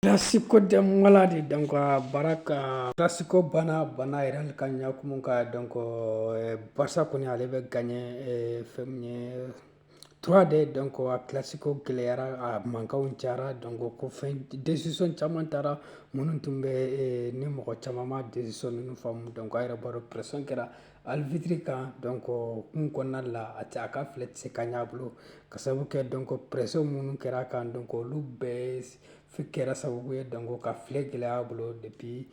Classico de maladie donc baara ka classico banna banna yɛrɛ ka ɲakumu ka donc Barça kɔni ale bɛ gagner fɛn ye trois deux donc a classico gɛlɛyara a mankanw cayara donc ko fɛn décision caman taara minnu tun bɛ ni mɔgɔ caman ma décision ninnu faamu donc a yɛrɛ b'a dɔn pression kɛra arbitre kan donc o hukumu kɔnɔna la a tɛ a ka filɛ tɛ se ka ɲɛ a bolo ka sababu kɛ donc pression minnu kɛra a kan donc olu bɛɛ Fi kɛra sababu ye donc ka filɛ gɛlɛya a bolo depuis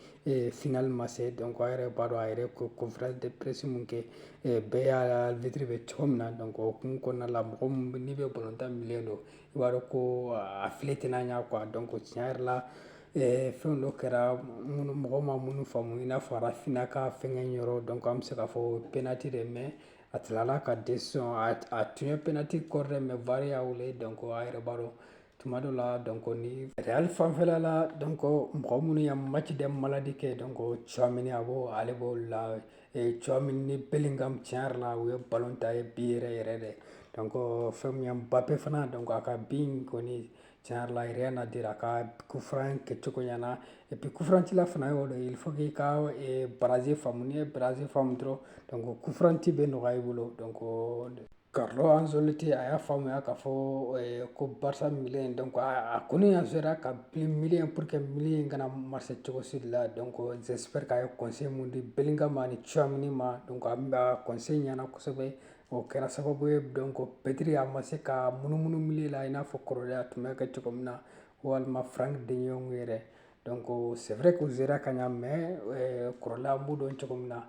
finale ma se donc a yɛrɛ b'a dɔn a yɛrɛ ko conférence de presse min kɛ bɛɛ y'a arbitre bɛ cogo min na donc o hukumu kɔnɔna la mɔgɔ n'i bɛ balontan milieu dɔn i b'a dɔn ko a filɛ tɛna ɲa a donc tiɲɛ yɛrɛ la fɛn dɔ kɛra minnu mɔgɔ ma minnu faamu i n'a fɔ Raphinha ka fɛn yɔrɔ donc an bɛ se k'a fɔ penalty dɛ mais a tilala ka décider a tun ye penalty kɔrɔ dɛ mais VAR y'a weele donc a yɛrɛ b'a dɔn tuma dɔ la donc ni real fanfɛla la donc mɔgɔ minnu ye match de maladie kɛ donc Tchouameni a b'o ale b'o la Tchouameni ni Bellingham tiɲɛ yɛrɛ la u ye ballon tan ye bi yɛrɛ yɛrɛ dɛ donc fɛn min ye Mbappe fana donc a ka bi in kɔni tiɲɛ yɛrɛ la rien à dire a ka coup franc kɛcogo ɲɛna et puis coup franc cila fana y'o de ye il faut k'i ka barrage faamu n'i ye barrage faamu dɔrɔn donc coup franc ci bɛ nɔgɔya i bolo donc Carlo Ancelotti a y'a faamuya k'a fɔ eh, ko Barça milieu in donc a, a kɔni a sera ka bi milieu pour que milieu in kana marcher cogo si de la donc j'espère k'a ye conseil min di Bellingham ani Tchouameni ma donc a bɛ conseil ɲɛna kosɛbɛ o kɛra sababu ye donc Pedri a ma se ka munumunu milieu la i n'a fɔ kɔrɔlen a tun b'a kɛ cogo min na walima Frank de Jong yɛrɛ donc c'est vrai que u sera ka ɲa mais eh, kɔrɔlen an b'u dɔn cogo min na